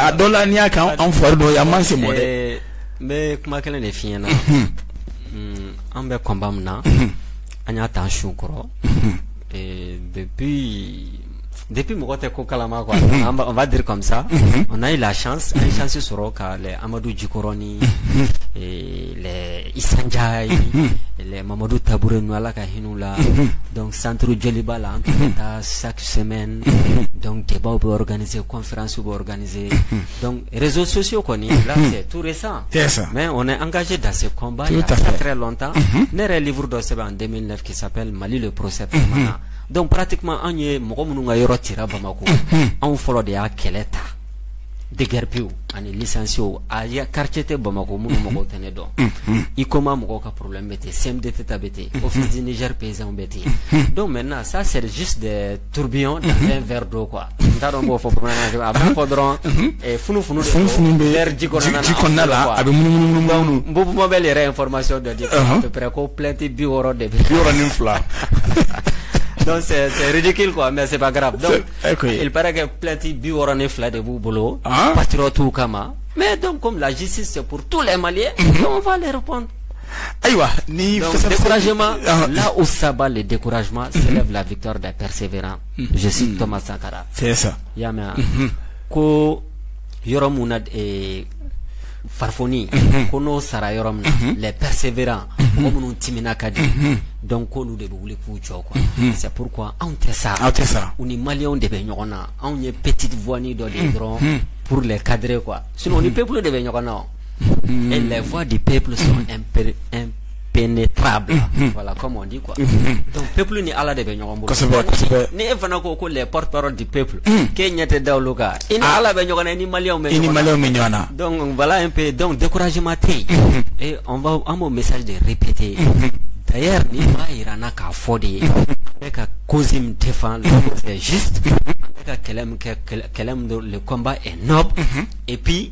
a dɔ la n'i y'a kan anw fari dɔ yan man se mɔ dɛ n bɛ kuma kelen de f'i ɲɛ na an bɛ combat min na an y'a ta su kɔrɔ depuis Depi mɔgɔ tɛ ko kalama anba di kamisa o n'a ye lacsi sɔrɔ ka amadu jikɔrɔni sanja ye mamadu taabolo n ala ka hinɛ la dɔn santuuru jeli b'a la an tun taa sa sɛmɛ dɔn cɛbaw bɛ gananie kɔnfranso bɛ gananie rezo sosi kɔni tuure san mɛ o an kase dase kɔnba lɔn tan ne yɛrɛ uru dɔ sɛbɛn an denmisɛnnin kip mali de psɛp dɔnku parati kuma anw ye mɔgɔ minnu ka yɔrɔ cira bamakɔ anw fɔlɔ de y'a kɛlɛ ta dɛgɛrɛpiwu ani lisiw a y' kariti tɛ bamakɔ minnu mɔgɔw tɛ ne dɔn i ko ma mɔgɔw ka porolen bɛ ten sɛden tɛ ta bɛ ten o fiz nidiri pezw bɛ ten yen don mɛ na sa serisi de turbiyɔn dan fɛn fɛrɛ don kuwa n t'a dɔn n b'o fɔ bamanankan na a b'a fɔ dɔrɔn eh, funu funu funu funu bɛ verre ji kɔnɔna na ji kɔnɔna la a bɛ munumunu munumunu Boubou Mabel yɛrɛ information dɔ di Uh-huh. à peu près ko plainte bi wɔɔrɔ de bɛ bi wɔɔrɔ ni fila donc c'est c'est ridicule quoi mais c'est pas grave donc C'est- ok. il paraît que plainte bi wɔɔrɔ ni fila de b'u bolo Ah. patriotes kama mais donc comme la justice c'est pour tous les Maliens Mm-hmm. donc on va les répondre ayiwa ni donc fɛsɛfɛsɛ- découragement Ah, là où s'abat le découragement s'élève la victoire des persévérants je cite Thomas Sankara c'est ça i y'a mɛn ko yɔrɔ min na farifoni ko n'o sara yɔrɔ min na les persévérants mɔgɔ minnu timinan ka di donc ko olu de bɛ wuli k'u jɔ quoi c'est pourquoi anw tɛ sa aw tɛ sa u ni maliyɛnw de bɛ ɲɔgɔn na anw ye petite voix nin dɔ de dɔrɔn pour les cadrer quoi sinon u ni peuple de bɛ ɲɔgɔn na les voix du peuple sont impénétrables voilà comme on dit quoi donc peuple ni Ala de bɛ ɲɔgɔn bolo kosɛbɛ kosɛbɛ ni e fana ko ko les porte-parole du peuple k'e ɲɛ tɛ da olu kan i ni Ala bɛ ɲɔgɔn na i ni maliyɛnw bɛ ɲɔgɔn na i ni maliyɛnw bɛ ɲɔgɔn na donc voilà un peu donc découragement tɛ yen et on va an b'o message de répéter d'ailleurs nin b'a jira an na k'a fɔ de ye an bɛ ka cause min défend la cause est juste an bɛ ka kɛlɛ min kɛ kɛlɛ min don le combat est noble et puis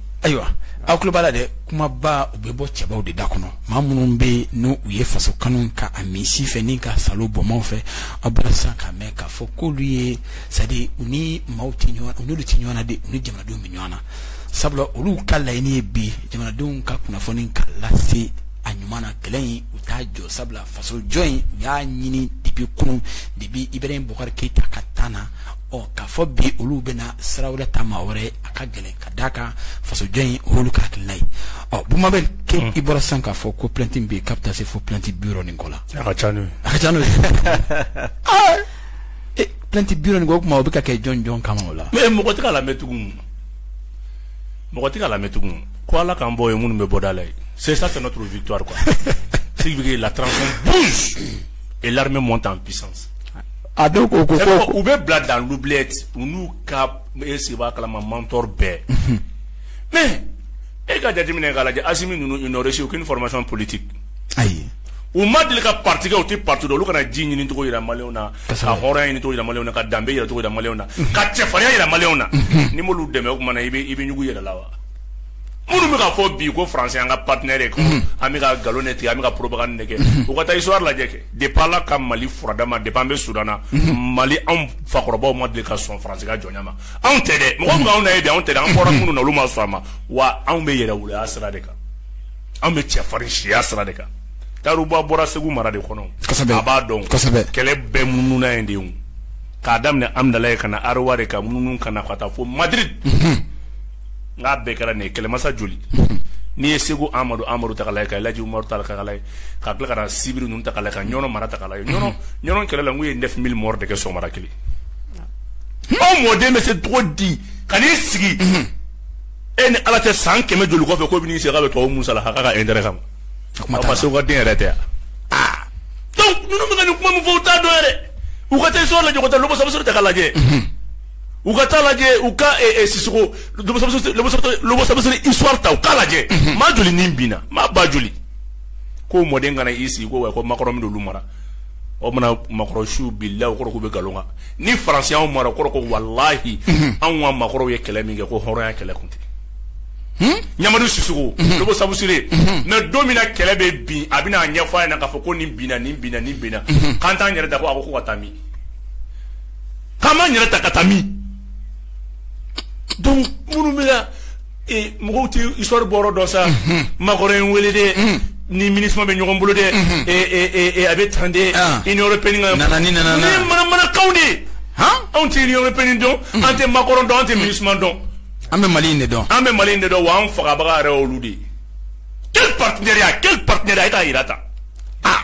ayiwa aw tulo b'a la dɛ kumabaw bɛ bɔ cɛbaw de da kɔnɔ maa minnu bɛ yen n'u u ye faso kanu k'a min sin fɛ ni k'a salo bonbon fɛ aw bɔra sisan k'a mɛn k'a fɔ k'olu ye c'est-à-dire u ni maaw tɛ ɲɔgɔn u n'olu tɛ ɲɔgɔn na dɛ u ni jamanadenw bɛ ɲɔgɔn na sabula olu ka laɲini ye bi jamanadenw ka kunnafoni k'a lase a ɲuman na kɛlɛ in u t'a jɔ sabula faso jɔ in u y'a ɲini depuis kunun depuis Ibrahim Boubacar Keïta ka temps na ɔ k'a fɔ bi olu bɛna sira wɛrɛ ta maa wɛrɛ a ka gɛlɛn ka d' a kan fasojɔ in hlu ka kila ye ɔ bba bɛ ke i bɔra san k'a fɔ ko plɛti bɛ yen ka taa se fo plɛti bi nin kɔ la a ka ca n'o plɛti bi nin o tuma o bɛ ka kɛ jɔn jɔn kama o la mɛ mɔgɔ tɛ lamɛn tugun mɔgɔ tɛ lamɛn tugun ko ala k'an bɔ ye minnu bɛ bɔda la ye sesa tɛ tun vituwari kuwa sigi bɛ la e lamɛn mɔn tan pisa a dɔw ko ko u bɛ bila dan lu u n'u ka E sigi b'a kalama mentor bɛɛ mais e ka jateminɛ k'a lajɛ Assimi ninnu ils n'ont reçu aucune formation politique ayi u ma deli ka parti kɛ u tɛ parti dɔn olu ka na ji ɲini cogo jira maliyɛnw na ka hɔrɔnya ɲini cogo jira maliyɛnw na ka danbe jira cogo jira maliyɛnw na ka cɛfarinya jira maliyɛnw na n'i m'olu dɛmɛ o mana i bɛ ɲugun yɛrɛ la wa minnu bɛ ka fɔ bi ko faransi an ka partenaire mhm. an bɛ ka nkalon ne tigɛ an bɛ ka propagande kɛ mhm. u ka taa histoire lajɛ kɛ de b'a la ka mali furada ma de an bɛ sudan na mhm. mali anw fakɔrɔbaw ma deli ka sɔn faransi ka jɔnya ma anw tɛ dɛ mɔgɔ anw na ye anw tɛ an bɔra minnu na olu ma sɔn a ma wa anw bɛ yɛrɛwoloya sira de kan anw bɛ cɛfarin siya sira de kan tarikuba bɔra segu mara de kɔnɔ a b'a dɔn kɛlɛ bɛɛ mununa yen de k'a daminɛ hamudalayi ka na aliwari ka munu ka na ka taa fo madiri nk'a bɛɛ kɛra nin ye kɛlɛmasa joli n'i ye segu amadu amadu ta k'a la ka laji umaru ta k'a la ka bila ka sibiri ninnu ta k'a la ka ɲɔnɔ mara ta k'a la ɲɔnɔ kɛlɛ la u ye neuf mille morts de kɛ so mara kelen anw mɔden bɛ se cogo di ka n'i sigi e ni ala tɛ san kɛmɛ joli kɔfɛ ko bɛ'i se ka bɛ tɔgɔ musalaka intérêt kama parce que den yɛrɛ tɛ yan donc ninnu bɛ nin kuma min fɔ u t'a dɔn yɛrɛ u ka taa histoire lajɛ ka taa logo sabusire ta k'a lajɛ u ka taa lajɛ u ka eh, eh, sisoko logo sabusire histoire ta u k'a lajɛ mhm. maa joli ni binna maa ba joli k'o mɔden ka n'i sigi ko wa ko makɔrɔ min olu mara o mana makɔrɔ su bila o kɔrɔ k'u bɛ nkalon kan ni faransi y'anw mara o kɔrɔ ko walahi mhm. anw ka maakɔrɔw ye kɛlɛ min kɛ ko hɔrɔnya kɛlɛ kun tɛ Hmm? ɲamadu sisoko hmm. logo sabusire hmm. mɛ don min na kɛlɛ bɛ bin a bɛna a ɲɛfɔ a ɲɛna k'a fɔ ko nin binna nin binna nin binna k'an t'an yɛrɛ ta ko a ko ko ka taa min k'an b'an yɛrɛ ta ka taa min donc minnu bɛ na ee mɔgɔw tɛ histoire bɔyɔrɔ dɔn sa Macron ye n wele dɛ ni Minusma bɛ ɲɔgɔn bolo dɛ ee ee ee a bɛ tan dɛ Ah. union européenne ka Nana ni nana na. ne ye manamanakanw de ye han anw tɛ union européenne dɔn an tɛ Macron dɔn an tɛ Minusma dɔn an bɛ mali in de dɔn an bɛ mali in de dɔn wa an fagabaga yɛrɛ y'olu de ye quel partenariat quel partenariat i t'a jira tan ah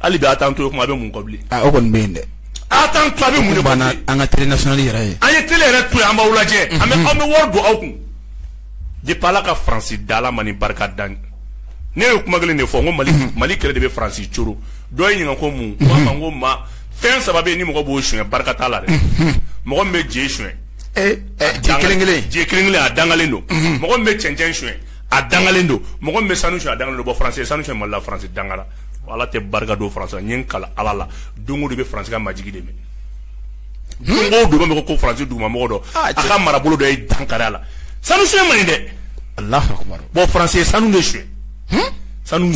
hali bi a t'an to yen o tuma a bɛ mun kɔ bilen. Aa o kɔni bɛ yen dɛ. A t'an to a bɛ mun de kɔ bilen. O tuma an ka télé nationale yɛrɛ ye. A ye télé yɛrɛ to yen an b'aw lajɛ. Unhun. An bɛ an bɛ wari don aw kun. Depuis Ala ka France da Ala ma ni barika da n ne ye kuma kelen de fɔ n ko Mali Mali kɛlɛ de bɛ France coro dɔ ye n ɲininka ko mun n k'a ma n ko maa fɛn saba bɛ yen ni mɔgɔ b'o suɲɛ barika t'a la dɛ mɔgɔ min bɛ je suɲɛ Ee ɛ je kelen kelen. je kelen kelen a dangalen don mɔgɔ min bɛ cɛncɛn suɲɛ a dangalen don mɔgɔ min bɛ sanu suɲɛ a dangalen don bon France ye sanu suɲɛ Mali la France dangara Ala tɛ barika don France n kala ala la dungɔ de bɛ France ka majigin de minɛ dugu mɔgɔ ko France dugumamɔgɔ don a ka marabolo dɔ ye dankari a la sanu suɲɛ man ɲi dɛ Allahu akbar bon France ye sanu de suɲɛ sanu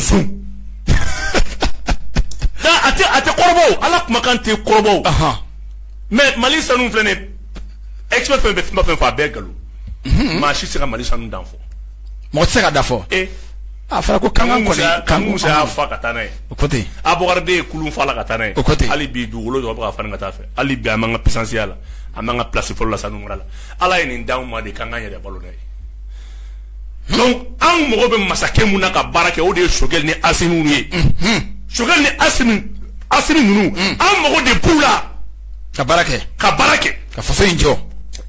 a tɛ a tɛ kɔrɔbɔ ala kumakan tɛ kɔrɔbɔ mais mali sanu filɛ nin expert bɛ fɛn o fɛn fɔ a bɛɛ nkalon maa si tɛ se ka mali sanu dan fɔ mɔgɔ tɛ se k'a dan fɔ A fɔra ko Kanku ko Kanku Musa y'a fa ka taa n'a ye o ko ten Abubakari deux ye kulun fa a la ka taa n'a ye o ko ten hali bi dugukolo jɔɔ bɛ ka falen ka taa a fɛ hali bi an b'an ka puissance ya la an b'an ka place fɔlɔ la Sanu mara la Ala ye nin d'anw ma de k'an k'an yɛrɛ balo n'a ye donc anw mago bɛ masakɛ min na ka baara kɛ o de ye Choguel ni Assimi ninnu ye unhun Choguel ni Assimi Assimi ninnu anw mago de b'u la ka baara kɛ ka baara kɛ ka faso in jɔ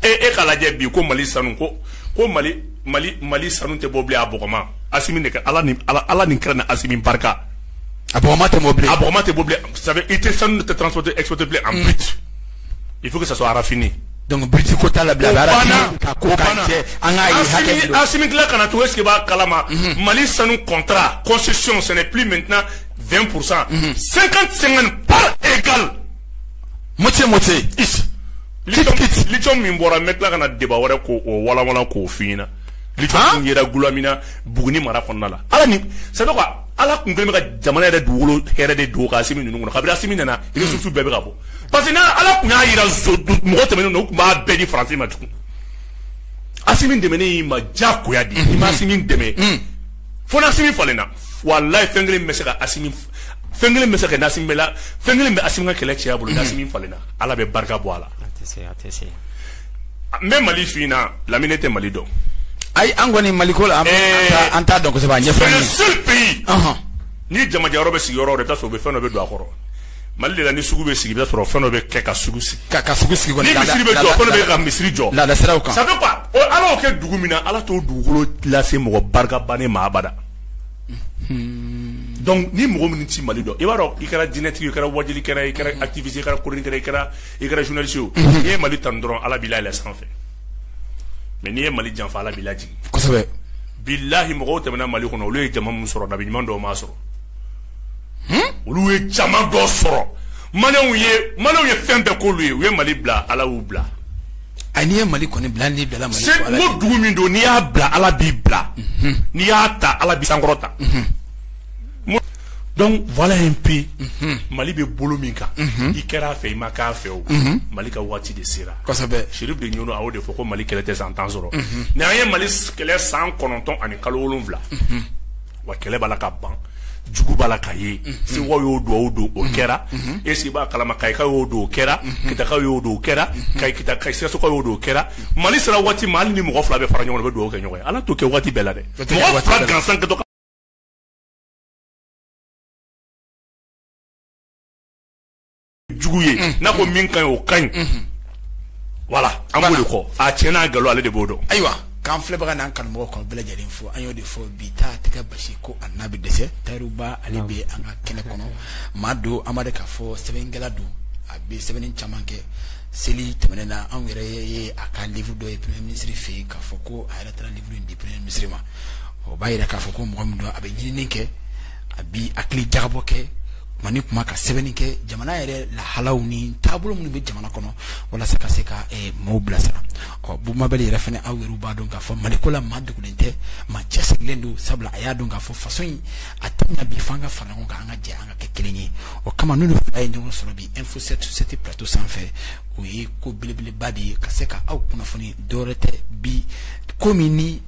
e e k'a lajɛ bi ko Mali sanu ko ko Mali mali mali sanu tɛ bɔ a bma a kɛ ala ni ala ala ni kɛra ni a min barika a bma tɛ mɔbili a bma tɛ bɔ i tɛ sanu tɛ tran tɛ eto tɛ an i fo ka sa arafini dɔnku bi ko t'a la an ka kana to sigi b'a kalama mhm. mali sanu kɔntara kɔsisi sɛnɛ p min tɛna fɛn kurusan sen sen pa e moitié moitié lithium min bɔra an bɛ tila ka na débat wɛrɛ ko o wawalan k'o fɔ na lithium yɛrɛ Goulamina Buguni mara kɔnɔna la ala ni ça veut dire quoi ala tun bɛ ka jamana yɛrɛ dugukolo hɛrɛ de dogo ka Assimi ninnu kɔnɔ kabini Assimi nana le sous-sol bɛɛ bɛ ka bɔ parce que n' ala tun y'a jira mɔgɔ tɛmɛnenw na u tun b'a bɛɛ di français ma tugun Assimi dɛmɛni y'i ma jagoya di i ma Assimi dɛmɛ fo Assimi falenna wallahi fɛn kelen bɛ se ka a fɛn kelen bɛ se ka na Assimi la fɛn kelen bɛ Assimi ka kɛlɛ ci a bolo ni Assimi falenna Ala bɛ barika bɔ a la a tɛ se a tɛ se n bɛ Mali su in na Lamine tɛ Mali dɔn ayi an kɔni Mali ko la an t'a dɔn kosɛbɛ a ɲɛfɔ c'est le seul pays ni jamajɛ yɔrɔ bɛ sigi yɔrɔ o yɔrɔ i bɛ taa sɔrɔ u bɛ fɛn dɔ bɛ don a kɔrɔ mali de la ni sugu bɛ sigi i bɛ sɔrɔ fɛn dɔ bɛ kɛ ka sugu sigi ka ka sugu sigi ni misiri bɛ jɔ fɛn dɔ bɛ ka misiri jɔ laadasiraw kan ça fait quoi ala y'o kɛ dugu min na ala t'o dugukolo lase mɔgɔ barikabani ma abada donc ni mɔgɔ min tɛ mali dɔn i b'a dɔn i kɛra diinɛtigi i kɛra waajulikɛla i kɛra activiste i kɛra chroniqueur i kɛra journaliste i ye mali ta dɔrɔn ala b'i bila sanfɛ mais n'i ye mali janfa ala b'i lajigin bilahi mɔgɔw tɛmɛna mali kɔnɔ olu ye jama min sɔrɔ nabiɲuman dɔw m'a sɔrɔ olu ye jama dɔ sɔrɔ malienw ye fɛn bɛɛ k'olu ye u ye mali bila ala y'u bila A n'i ye mali kɔni bila n'i bila mali dugu min don n'i y'a bila ala b'i bila mhm. n'i y'a ta ala b'i sankɔrɔta mhm. donc voilà un peu mhm. mali bɛ bolo min kan i kɛra a fɛ i ma k'a fɛ o mali ka waati de sera kosɛbɛ Chérif de Nioro y'o de fɔ ko mali kɛlɛ tɛ san tan sɔrɔ ni an ye mali kɛlɛ san kɔnɔntɔn ani kalo wolonfila wa kɛlɛ b'a la ka ban jugu b'a la ka ye sewa y'o dugawu don o kɛra est-ce que i b'a kalama kayikaw y'o don o kɛra kitakaw y'o don o kɛra ka kita ka sikasokaw y'o don o kɛra mali sera waati ma hali ni mɔgɔ fila bɛ fara ɲɔgɔn na, u bɛ dugawu kɛ ɲɔgɔn ye ala t'o kɛ waati bɛɛ la dɛ tɛ kɛ waati bɛɛ la. mɔgɔ fila gansan kɛtɔ ka jugu ye mm. n'a ko min ka ɲi o ka ɲi mm-hmm. voilà an b'o de kɔ a tiɲɛ n'a galo ale de b'o dɔn ayiwa k'an filɛbaga n'an kanumɔgɔ k'a bɛɛ lajɛlen fo an y'o de fɔ bi ta tɛ kɛ baasi ko a n'a bɛ dɛsɛ tariba ale bɛ an ka kɛnɛ kɔnɔ maa don an b'a dɔn k'a fɔ sɛbɛnkɛla don a bɛ sɛbɛnni caman kɛ seli tɛmɛnen na anw yɛrɛ ye a ka livre dɔ ye premier ministre fɛ yen k'a fɔ ko a yɛrɛ taara livre in di premier ministre ma o b'a yira k'a fɔ ko mɔgɔ min don a bɛ ɲinini kɛ a bi hakili jabɔ kɛ kuma ni kuma ka sɛbɛnni kɛ jamana yɛrɛ lahalaw ni taabolo minnu bɛ jamana kɔnɔ walasa ka se ka eh, maaw bilasira ɔ bubu mabɛli yɛrɛ fana aw yɛrɛ b'a dɔn k'a fɔ mali ko la maa dogolen tɛ maa cɛsirilen don sabula a y'a dɔn k'a fɔ faso in a tɛ ɲa bi f'an ka fara ɲɔgɔn kan an ka jɛ an ka kɛ kelen ye o kama ninnu fila ye ɲɔgɔn sɔrɔ bi info sept sur sept plateau sanfɛ o ye ko belebeleba de ye ka se ka aw kunnafoni dɔwɛrɛ tɛ bi ko min ni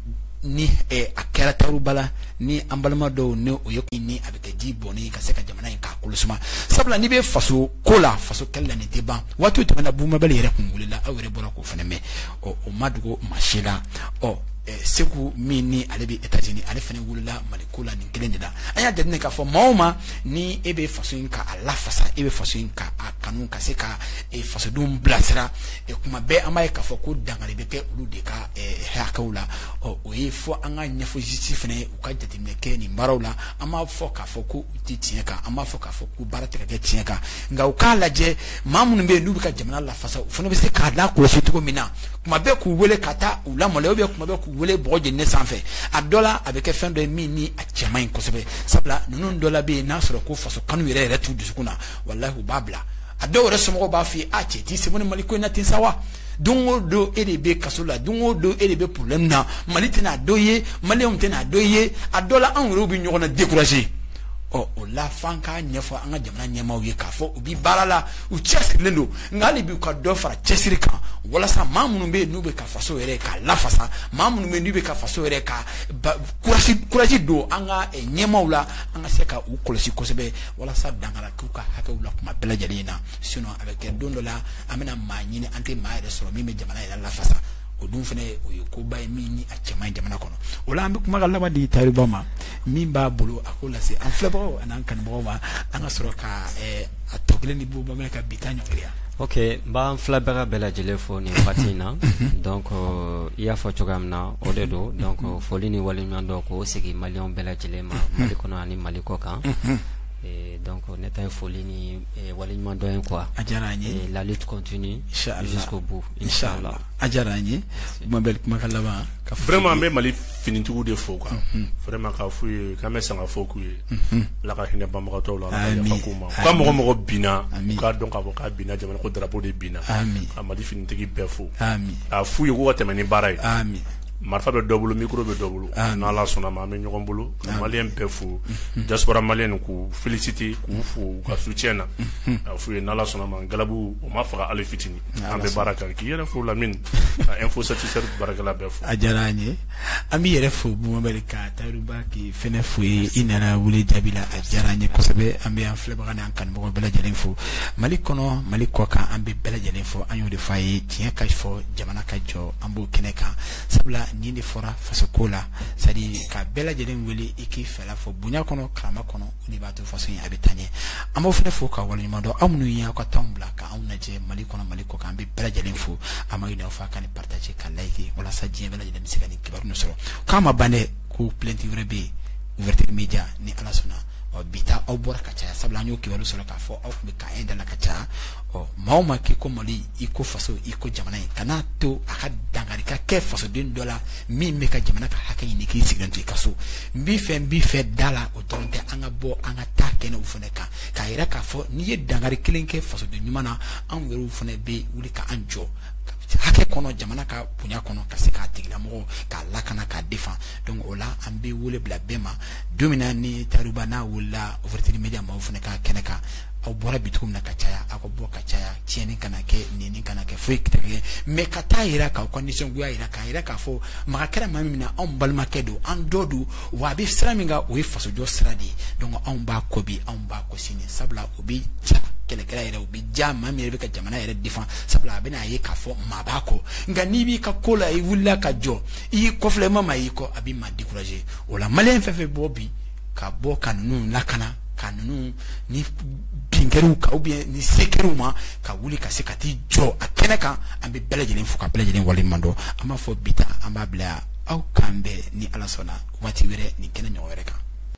ni eh, a kɛra tariba la ni an balima dɔw ne o ye kun ni a bɛ kɛ ji bɔnni ka se ka jamana in k'a kolo suma sabula n'i bɛ faso ko la faso kɛlɛ la nin tɛ ban waati tɛmɛna bubu mabɛli yɛrɛ kun wulila aw yɛrɛ bɔra k'o fana mɛn ɔ o ma dogo maa si la ɔ eh, seku min ni ale bɛ etats-unis ale fana wulila mali ko la nin kelen de la an y'a jateminɛ k'a fɔ maa o maa ni e bɛ faso in ka a lafasa e bɛ faso in ka a kanu ka se ka eh, fasodenw bilasira eh, kuma bɛɛ an b'a ye k'a fɔ ko dankari bɛ kɛ olu de ka eh, hakɛw la ɔ o ye fo an k'a ɲɛfɔ justice fana ye u ka jateminɛ kɛ nin baaraw la an m'a fɔ k'a fɔ ko u tɛ tiɲɛ kan an m'a fɔ k'a fɔ ko baara tɛ ka kɛ tiɲɛ kan nka u k'a lajɛ maa minnu bɛ yen n'u bɛ ka jamana lafasa u fana bɛ se k'a lakɔlɔsi cogo min na kuma bɛɛ k'u wele ka taa u lamɔnɛ u bɛ kuma bɛɛ k'u wele bɔgɔ jeni sanfɛ a dɔ la a bɛ kɛ fɛn dɔ ye min ni a cɛ man ɲi kosɛbɛ sabula ninnu dɔ la bɛ yen n'a sɔrɔ ko faso kanu yɛrɛ yɛrɛ t'u dusukun na walahi u b'a bila a dɔw yɛrɛ somɔgɔw b'a f'i ye a cɛ t'i sen bɔ nin mali ko in na ten sa wa don o don e de bɛ kaso la don o don e de bɛ problème na mali tɛna a dɔn i ye maliyɛnw tɛna a dɔn i ye a dɔ la anw yɛrɛw bɛ ɲɔgɔn na décourager ɔ o la f'an k'a ɲɛfɔ an ka jamana ɲɛmaaw ye k'a fɔ u bi baara la u cɛsirilen don nka hali bi u ka dɔ fara cɛsiri kan walasa maa minnu bɛ yen n'u bɛ ka faso yɛrɛ k'a lafasa maa minnu bɛ yen n'u bɛ ka faso yɛrɛ ka courage courage don an ka ɲɛmaaw la an ka se ka u kɔlɔsi kosɛbɛ walasa dankari k'u ka hakɛw la kuma bɛɛ lajɛlen na sinon a bɛ kɛ don dɔ la an bɛna maa ɲini an tɛ maa yɛrɛ sɔrɔ min bɛ jamana yɛrɛ lafasa o dun fana o ye koba ye min ni a cɛ man ɲi jamana kɔnɔ o la an bɛ kumakan laban di tariba ma min b'a bolo a k'o lase an filɛbagaw an'an kanubagaw ma an ka sɔrɔ ka eh, a tɔ kelen di bɔ bamanan ka bi ta ɲɔgɔnya ok n b'an filɛbaga bɛɛ lajɛlen fo nin wagati in na donc euh, i y'a fɔ cogoya min na o de don donc euh, foli ni waleɲumandɔn k'o segin maliyɛnw bɛɛ lajɛlen ma mali kɔnɔ ani mali kɔ kan Eh, donc ne ta ye foli ni waliɲumandɔn ye quoi a diyara an ye la lutte continue jusqu'au bout inchallah a diyara an ye n bɛ kuma ka laban vraiment n bɛ mali finitigi de fo quoi vraiment k'a f'u ye k'an bɛ sanga fo k'u ye ala ka hinɛ banbagatɔ la yafa k'u ma ka mɔgɔ o mɔgɔ binna k'a dɔn k'a fɔ k'a binina jamana ko drapeau de binina a mali finitigi bɛɛ fo a f'u ye k'u ka tɛmɛ ni baara ye marifa bɛ dɔ bolo mikoro bɛ dɔ bolo n'ala sɔnna ma an bɛ ɲɔgɔn bolo maliyɛn bɛɛ fo diaspora maliyɛn k'u féliciter k'u fo u ka soutien na a f'u ye n'ala sɔnna ma galabu o ma faga hali fitinin an bɛ baara kan k'i yɛrɛ fo lamini info satisɛ baarakɛla bɛɛ fo a diyara an ye an b'i yɛrɛ fo bon abarika tayiru ba k'i fana fo ye i nana wele jaabi la a diyara an ye kosɛbɛ an bɛ an filɛbaga ni an kanubaga bɛɛ lajɛlen fo mali kɔnɔ mali kɔ kan an bɛ bɛɛ lajɛlen fo an y'o de fɔ a ye tiɲɛ ka fɔ jamana ka jɔ an b'o kɛnɛ kan sabula nin de fɔra faso ko la c'est à dire ka bɛɛ lajɛlen wele i k'i fɛla fɔ bonya kɔnɔ karama kɔnɔ o de b'a to faso in a bɛ taa ɲɛ an b'aw fana fo ka waleɲuman dɔn aw minnu ye aw ka temps bila ka anw lajɛ mali kɔnɔ mali kɔ kan an bɛ bɛɛ lajɛlen fo an b'a ɲini aw fɛ ka nin partager ka like walasa diɲɛ bɛɛ lajɛlen bɛ se ka nin kibaru sɔrɔ k'a ma ban dɛ ko plainte wɛrɛ bɛ yen ouverture media ni ala sɔnna ɔ bi ta aw bɔra ka caya sabula an y'o kibaru sɔrɔ k'a fɔ aw tun bɛ ka ye dala ka ca ɔ maaw ma k'i ko mali i ko faso i ko jamana i kana to a ka dankari ka kɛ fasoden dɔ la min bɛ ka jamana ka hakɛ ɲini k'i sigilen to i ka so n b'i fɛ n b'i fɛ da la o dɔrɔn tɛ an ka bɔ an ka taa kɛnɛw fana kan k'a yira k'a fɔ n'i ye dankari kelen kɛ fasoden ɲuman na anw yɛrɛw fana bɛ wuli ka an jɔ hakɛ kɔnɔ jamana ka bonya kɔnɔ ka se k'a tigilamɔgɔ k'a lakana k'a defan donc o la an bɛ wele bila bɛɛ ma don min na ni tayiru ba n'a wulila ouverture media maaw fana ka kɛnɛ kan aw bɔra bi min na ka caya aw ka bɔ ka caya tiɲɛni kana kɛ nin kana kɛ foyi tɛ kɛ mais ka taa jira k'aw ka nisɔngoya jira k'a jira k'a fɔ maga kɛra maa min na anw balimakɛ don an dɔ don wa a bɛ sira min kan o ye fasojɔ sira de ye donc anw b'a kɔ bi anw b'a kɔ sini sabula o bɛ diya kɛlɛkɛla yɛrɛ o bɛ diya maa min yɛrɛ bɛ ka jamana yɛrɛ defan sabula a bɛna a ye k'a fɔ maa b'a kɔ nka n'i b'i ka ko la i wulila ka jɔ i y'i kɔ filɛ i ma maa y'i kɔ a bɛ maa décourager o la maliyɛn fɛn fɛn bɔ bi ka bɔ ka ninnu lakana ka ninnu ni binkɛriw ka ou bien ni sekɛriw ma ka wuli ka se ka t'i jɔ a kɛnɛ kan an bɛ bɛɛ lajɛlen fo ka bɛɛ lajɛlen waleɲuman dɔn an b'a fɔ bi ta an b'a bila yan aw k'an bɛn ni ala sɔnna waati wɛrɛ nin kɛnɛ ɲɔgɔn wɛrɛ kan